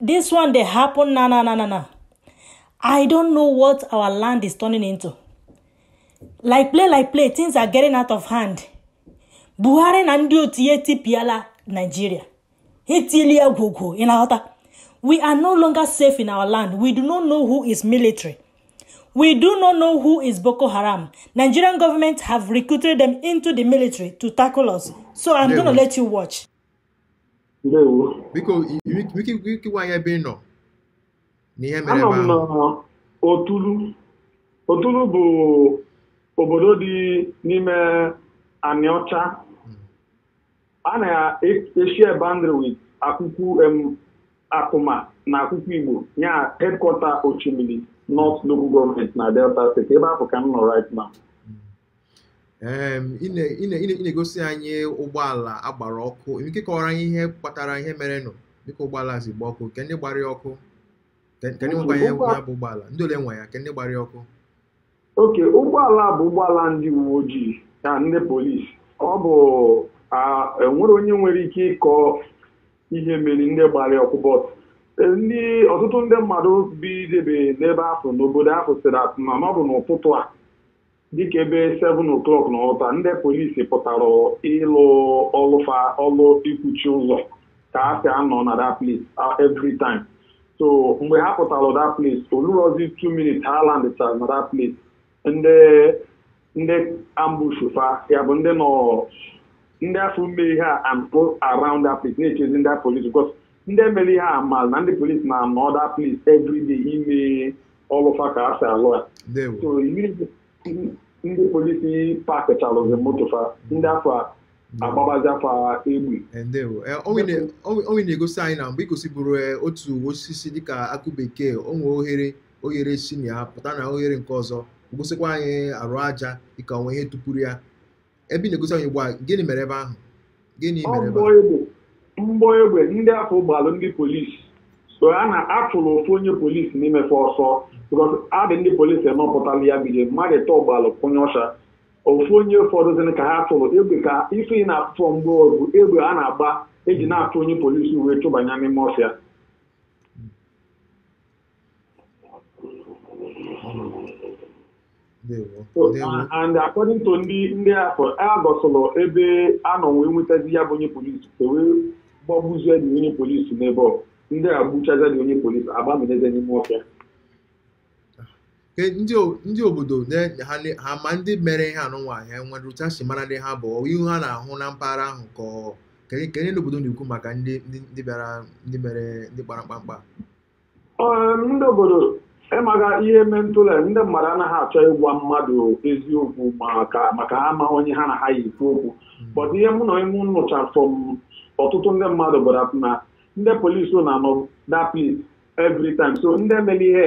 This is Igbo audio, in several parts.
This one dey happen na na na na na. I don't know what our land is turning into. Like play like play, things are getting out of hand. Buhari na ndị otu ya etipiala Nigeria. Ha etiela ya gwogwo, ị na-aghọta? We are no longer safe in our land. We do not know who is military. We do not know who is Boko Haram. Nigerian government have recruited them into the military to tackle us. So I'm There going to we- let you watch. biko ike gwa anyị ebe ị nọ na ihe mere ebe ahụ otulu otulu bụ obodo dị n'ime anịọcha hmm. a na-eshare boundary with akwukwu atuma na akwukwu igbo ya headquarter oshimili north local government na delta state ebe afụ ka m nọ right now ị na-egosi anyị ụgbọala a gbara ọkụ ike kọwara anyị ihe kpatara ihe merenụ dịka ụgbọala si gba ọkụ kee ndị gbara ya ọkụ kee ndị nwekwa ya bụ ụgbọala ndị ole nwe ya kee ndị gbara ya ọkụ okay ụgbọala bụ ụgbọala ndị uwe ojii na ndị polisi ọ bụ enwerọ onye nwere ike ịkọ ihe mere ndị gbara ya ọkụ but e, ndị ọtụtụ ndị mmadụ bidebe n'ebe afụ n'obodo afụ sịrị atụ na ọ bụ n'ụtụtụ a dịka ebe 7 o'clock n'ụtụtụ a ndị polisi pụtara ịlụ ọlụ fa ọlụ ikwuchi ụzọ ka ha si anọ na that place uh, every time so mgbe ha pụtara that place o lurọzi 2 minutes ha landịchara na that place ndị ndị ambush fa ya bụ ndị nọ ndị afụ mere ihe a anọgo around that place na-echezi ndị polisi because ndị mere ihe a malụ na ndị polisi na-anọ that place every day ime ọlụ fa ka ha si alụ ya so iri ndị polisi pakịchalụzi moto fa ndị afụ agbabazie fa egbe o nwe na-egosi anyị na mgbe i gosiburu e, otu osisi dịka akụ bekee o nwe oghere oghere si na ya pụta na oghere nke ọzọ gosikwa anyị arụ aja dịka o nwe ihe tụpuru ya ebe ị na-egosi anyị ugbu a gịnị mere ebe ahụ gịnị Ọ mere ebe mgbọ ahụ egbe mgbọ egbe ndị afụ gbalụ ndị polisi so a na achụrụ ofu onye polisi n'ime fa ọsọ because ha dị ndị polisi enọ pụtala ya bido mmadụ ịtọ gbalụ kpunye ọfịa ofu onye fọdụzịrị ka ha chụrụ ebe ka ife ị na-afụ bụ mgbọ egbe egbe a na-agba eji na-achụ onye polisi wee chụbanye n'ime ọfịa and according to ndị ndị afụ a gosịlụ ebe a nọ wee nwetazi ya bụ onye polisi e wee gbagbuzie the onye polisi n'ebe ọ ndị a gbuchazi the onye polisi agbaminyezie n'ime ọfịa ndị obodo ha ma ndị mere ihe a nụnwa ha enwere otu ha si mara ndị ha bụ ihu ha na-ahụ na mpaghara ahụ ka kee ihe ndị obodo na-ekwu maka ndị bịara ndị mere ndị kpara mkpamkpa ndị obodo ịmaga ihe eme ntụle ndị mmadụ anaghị achọ ịgwa mmadụ eziokwu maka ha amaghị onye ha na ha yi ekwu okwu but ihe mụ na onwe m nụcha from ọtụtụ ndị mmadụ gwara na ndị polisi na-anọ that place every time so ndị mere ihe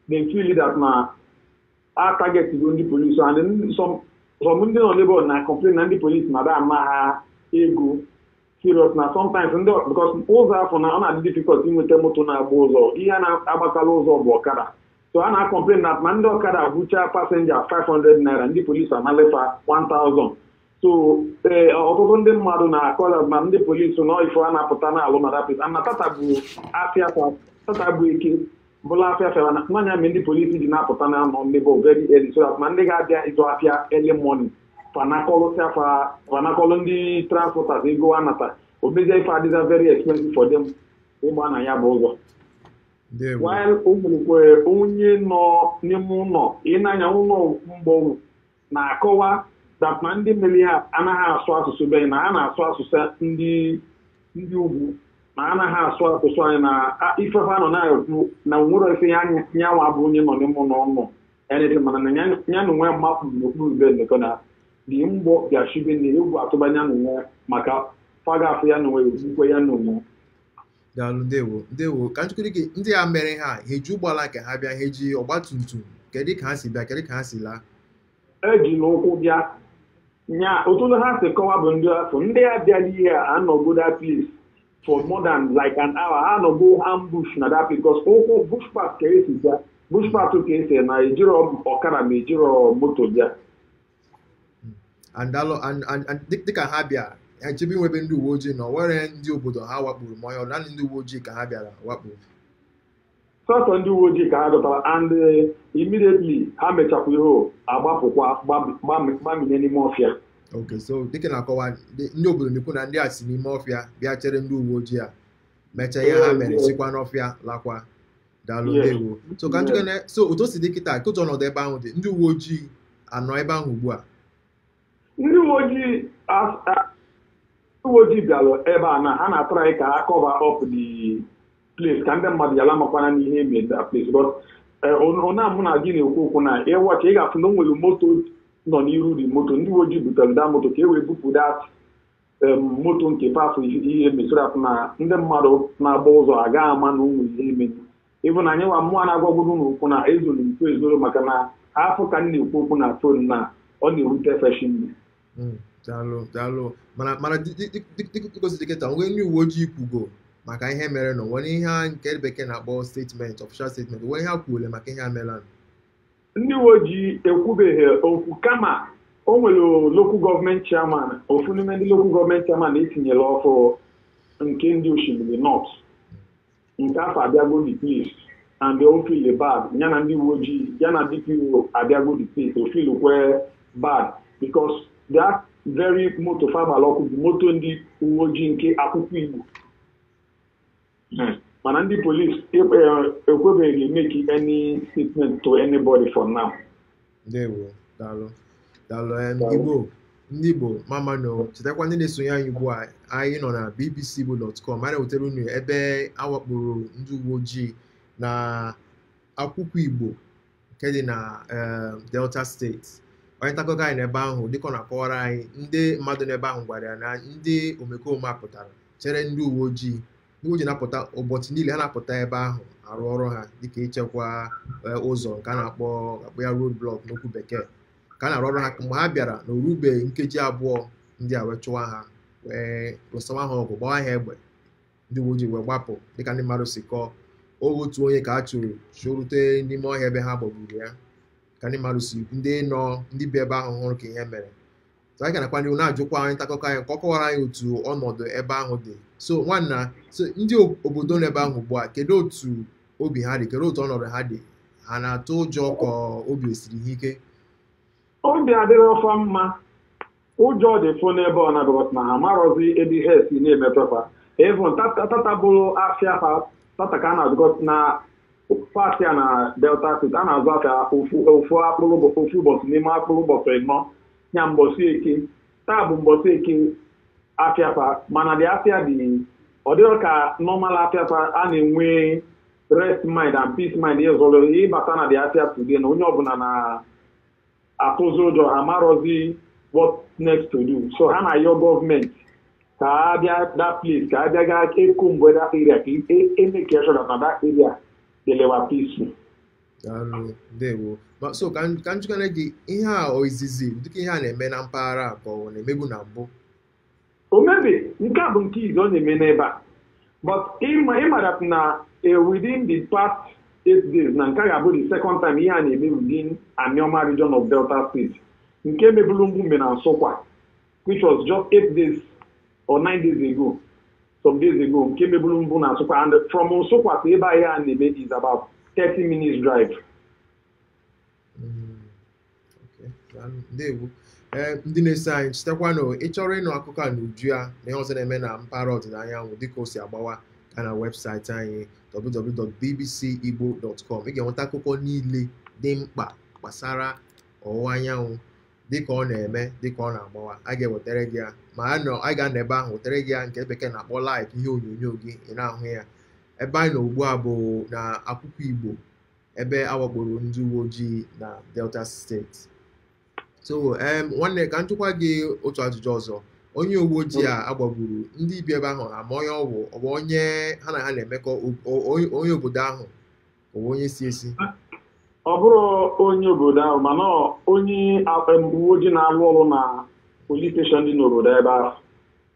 they feel that na a target go ndị polisi and some ndị nọ n'ebe na complain na ndị polisi na da ama ha ego serious na sometimes ndị because ụzọ afụ na ọ na-adị difficult inweta moto na-agba ụzọ ihe na-agbakarị ụzọ bụ ọkada so a na-acomplain na ma ndị ọkada bucha passenger 500 naira ndị polisi anala fa 1000 so ee eh, ọtụtụ ndị mmadụ na-akọla na ndị polisi na fa na-apụta n'alụ na rapid ana tata bụ afịa tata bụ Eke bụla afịa fa na nya mere ndị polisi ji na-apụta na-anọ n'ebe very early so that ma ndị ga-abịa ịzụ afịa early morning fa anakọlụsịa fa fa anakọlụ ndị transporters ego a nata o mezie ife adịzie very expensive for them ịgba na ya bụ ụzọ ndewo while o nwerekwa onye nọ n'ime ụlọ ịnanya ụlọ mgbọnwụ na-akọwa that na ndị mere ihe a anaghị asụ asụsụ be na ha na-asụ asụsụ ndị ndị ugwu na anaghị asụ asụsụ anyị na ife fa nọ na-ekwu na nwere ife ya nyanwa bụ onye nọ n'ime ụlọ ọnụ erịrị mana na ya na onwe makpu n'okpuru bed ndekọ na dị mgbọ bịachibe na egwu atụba nya na onwe maka fa ga-afụ ya na onwe egbukwe ya na onwe daalụ ndewo ndewo ka m jụkwuo gị ndị a mere ihe a ha eji ụgbọala nke ha bịa ha eji ọgba tum tum kedu ka ha si bịa kedu ka ha si laa eji n'ụkwụ bịa nya otu ha si kọwa bụ ndị afụ ndị a bịara ihe a anọgo that place for more than like an hour ha anọgo ambush na that place because ụkwụ bush path ka e si bịa bush path ka e si naa ejirọ ọkada ma ejirọ moto bịa dịka ha bịa ha chebe n'ebe ndị uwe ojii nọ o nwere ndị obodo ha wakporo ma ọ naanị ndị uwe ojii ka ha bịara wakpo sọsọ ndị uwe ojii ka ha chọtara and eh, immediately ha mechapụ ihe agbapụkwa gbamine n'ime ọfịa ok so dịka ị na-akọwa ndị obodo na-ekwu na ndị a si n'ime ọfịa bịa chere ndị uwe ojii a mechaa ihe ha mere sikwa n'ọfịa lakwa daalụ Yes. ndewo so ka m jụkwuo so otu o si dị kịta ka otu ọnọdụ ebe ahụ dị ndị uwe ojii anọ ebe ahụ ugbu a ndị uwe ojii as- a- ndị uwe ojii bịara ebe a na ha na-atry ka ha cover up the place ka ndị mmadụ yala makwana n'ihe eme that place but ona mụ na gị na-ekwu okwu na ị watch ị ga-afụ na o nwere moto nọ n'iru dị moto ndị uwe ojii butere that moto ka e wee bupụ that moto nke mpe afụ ihe mesoro afụ na ndị mmadụ na-agba ụzọ agaghị ama na o nwe ihe eme even anyị nwa mụwa na-agwagodu unu okwu na ezoro ikwu ezoro maka na afụ ka m na-ekwu okwu na phone na ọ na-ewute fa shinne hmm, daalụ daalụ mana mana dịka o si dị kịta o nwe ndị uwe ojii kwugo maka ihe merenụ o nwere ihe nke bekee na-akpọ statement official statement o nwere ihe ha kwuole maka ihe a merenụ Ndị uwe ojii ekwubeghị okwu kama o nwere local government chairman ofu n'ime ndị local government chairman e tinyere ọfụ nke ndị Oshimili North nke afụ abịago the place and o feel bad ya na ndị uwe ojii ya na DPO abịago the place o feel kwa bad because that very moto fa gbala ọkụ bụ moto ndị uwe ojii nke Akwụkwụ Igbo Hmm. mana ndị polis ekwebeghị make any statement to anybody for now ndewo daalụ daalụ Igbo ndị Igbo mma mma nụ chetakwa ndị na-esonye anyị ugbu a anyị nọ na bbcigbo.com anyị na-ewetara unu ebe a wakporo ndị uwe ojii na Akwụkwụ Igbo nke dị na eh, Delta steeti onye ntakụkọ anyị n'ebe ahụ dịka ọ na-akọwara anyị ndị mmadụ n'ebe ahụ gwara ya na ndị omekome a pụtara chere ndị uwe ojii ndị uwe ojii na-apụta ụbọchị niile ha na-apụta ebe ahụ arụ ọrụ ha dịka ichekwa eh, ụzọ nke a na-akpọ ya road block n'okwu bekee ka a na-arụ ọrụ ha mgbe ha bịara na o rubeghị nkeji abụọ ndị a wee chụwa ha wee lụsawa ha ọgụ gbawa ha egbe ndị uwe ojii wee gbapụ dịka ndị mmadụ si kọọ otu onye ka a chụrụ chụrute n'ime ọhịa ebe ha gbagburu ya ka ndị mmadụ si ndị nọ ndị bi ebe ahụ hụrụ ka ihe mere so anyị ka na-agakwa n'ihu na-ajụkwa onye ntakụkọ anyị ka ọ kọwara anyị otu ọnọdụ ebe ahụ dị so nwanna so ndị obodo nọ ebe ahụ ugbu a kedu otu obi ha dị kedu otu ọnọdụ ha dị ha na-atụ ụjọ ka obi esiri ha ike obi adịrọ fa mma ụjọ dị fụ n'ebe ọ na-abịa na ha amarọzi ebe ihe si na-emetụ fa even tata bụrụ afịa ha tata ka a na-azụgọta na part a na Delta steeti a na-azụ afịa ofu akpụrụ ofu ụbọchị n'ime akpụrụ ụbọchị ịnọ ya mbọsị Eke taa bụ mbọsị Eke afịa fa mana the afịa dị ọ dịghị ka normal afịa fa a na-enwe rest mind and peace mind ịzụrụ ịbata na the afịa today na onye ọbụla na atụzi ụjọ ha amarọzi what next to do so ha na-ayọ gọọmenti ka a bịa that place ka a bịa gaa comb that area ka e make sure that na that area dịlịwa peaceful ndewo so ka m jụkene gị ihe a ọ izizi dịka ihe a na-eme na mpaghara a ka ọ na-emebu na mbụ O mebe, nke a bụ nke izizi ọ na-eme n'ebe a. But ị ma that na eh, within the past eight days na nke a ga-abụ the second time ihe a na-eme within Anioma region of Delta State nke mebulu mbụ mere na Nsụkwa which was just eight days or nine days ago some days ago nke mebulu mbụ na Nsụkwa and from Nsụkwa to ebe a ihe a na-eme is about 30 minutes drive. ndewo ee ndị na-eso anyị chetakwanụ ị chọrọ ịnụ akụkọ a n'uju ya na ihe ọzọ na-eme na mpaghara ọdịda anyanwụ dịka o si agbawa gaa na webụsaịtị anyị www.bbcigbo.com ị ga-enweta akụkọ niile dị mkpa gbasara ọwụwa anyanwụ dịka ọ na-eme dịka ọ na-agbawa a ga-ewetara gị ya ma anyị ga-anọ ebe ahụ wetara gị ya nke bekee na-akpọ live ihe onyonyo gị ị na-ahụ ya ebe anyị nọ ugbu a bụ na akwụkwụ igbo ebe a wakporo ndị uwe ojii na Delta steeti so nwanne ka m jụkwa gị otu ajụjụ ọzọ onye uwe ojii a a gbagburu ndị bi ebe ahụ ama onye ọ bụ ọ bụ onye ha na ha na-emekọ onye obodo ahụ ọ bụ onye si ezi ọ bụrọ onye obodo ahụ mana onye uwe ojii na-alụ ọrụ na polis steshọn dị n'obodo ebe ahụ